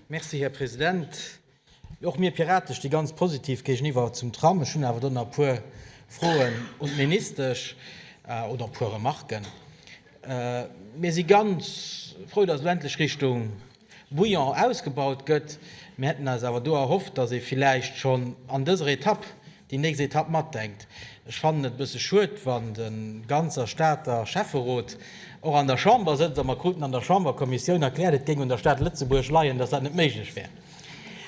Merci, Här President. Och mir Piraten sti ganz positiv géigeniwwer zum Tram. Ech hunn awer do nach e puer Froen un d'Ministesch oder e puer Remarken. Mir si ganz frou, dass elo endlech Richtung Bouillon ausgebaut gëtt. Mir hätten eis awer do erhofft, dass ee villäicht schonn an dëser Etapp déi nächst Etapp matdenkt. Ech fannen et e bësse schued, wann de ganzer Stater Schäfferot och an der Chamber sëtzt a mer kruten an der Chamberkommissioun erkläert, et géing un der Stad Lëtzebuerg leien, datt dat net méiglech wär,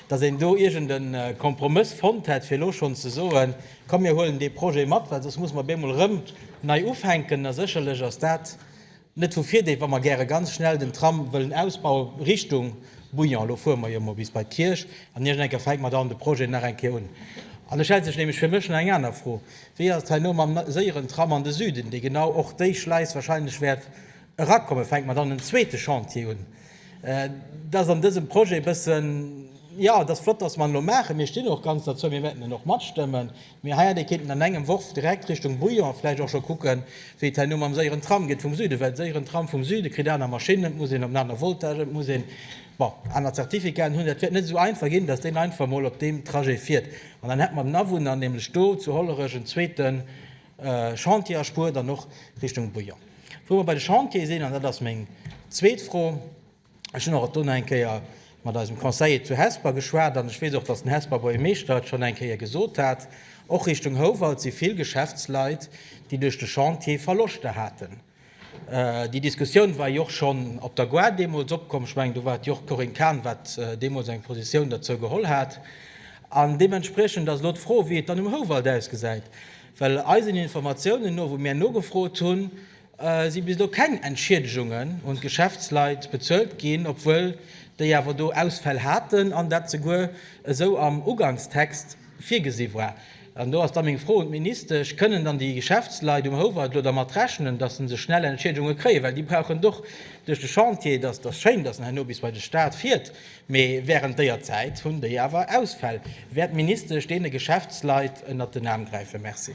datt een do iergend e Kompromëss fonnt hätt, fir elo schonn ze soen, komm mir huelen dee Projet mat, well soss muss mer bemol erëm nei ufänken. A sécherlech ass dat Net vu Virdeeg, wa mer gäre ganz schnell den Tram wëllen ausbauen Richtung Bouillon. Elo fuere mer jo emol bis bei d'Kierch an Iergend eng Kéier fänke mer dann de Projet nach eng Kéier un. An et stellt sech nämlech fir mech nach eng aner Fro, Wéi ass et heino mam séieren Tram an de Süden, dee genau och déi Schleis wahrscheinlech wäert erakommen? Fänke mer dann en zweete Chantier un? Dat ass an dësem Projet e bëssen, jo, et ass flott, dass mer en elo maachen, mir stinn och ganz derzou, mir wäerten en och matstëmmen, Mir hei an déi kéinten an engem Worf direkt Richtung Bouillon vläicht och scho kucken, wéi et hei no mam séieren Tram geet vum Süden. Well séieren Tram vum Süden kritt aner Maschinnen, et muss een op en aner Voltage, et muss een, bon, aner Zertifikaten hunn. Dat wäert net esou einfach ginn, dass deen einfach emol op deem Trajet fiert. An dann hätt mer den Awunner nämlech do zu Hollerech en zweete Chantier erspuert an och Richtung Bouillon. Wou mer bei de Chantiere sinn, an dat ass meng zweet Fro, Ech hunn och dono eng Kéier mat eisem Conseiller zu Hesper geschwat an ech weess och, datt den Hesper Buergermeeschter et schonn eng Kéier gesot hat, Och Richtung Houwald si vill Geschäftsleit, déi duerch de Chantier Verloschter haten. Déi Diskussioun war jo och schonn op der Gare deemools opkomm. Ech mengen, do war et jo och d'Corinne Cahen, wat deemools eng Positioun derzou geholl hat. An deementspriechend ass elo d'Fro, wéi et dann um Houwald ausgesäit. Well eisen Informatiounen no, wou mir nogefrot hunn, si bis elo keng Entschiedegungen un d'Geschäftsleit bezuelt ginn, obwuel déi awer do Ausfäll haten an dat souguer esou am Ugankstext virgesi war. An do ass da meng Fro un d'Ministesch, Kënnen dann déi Geschäftsleit um Houwald elo dermat rechnen, datt se se schnell Entschiedegunge kréien, well déi brauchen d'och duerch de Chantier? Et ass schéin, datt en herno bis bei de Staat fiert, mee wärend déier Zäit hunn déi awer Ausfäll. Wäert d'Ministesch deene Geschäftsleit ënnert den Aarm gräifen? Merci.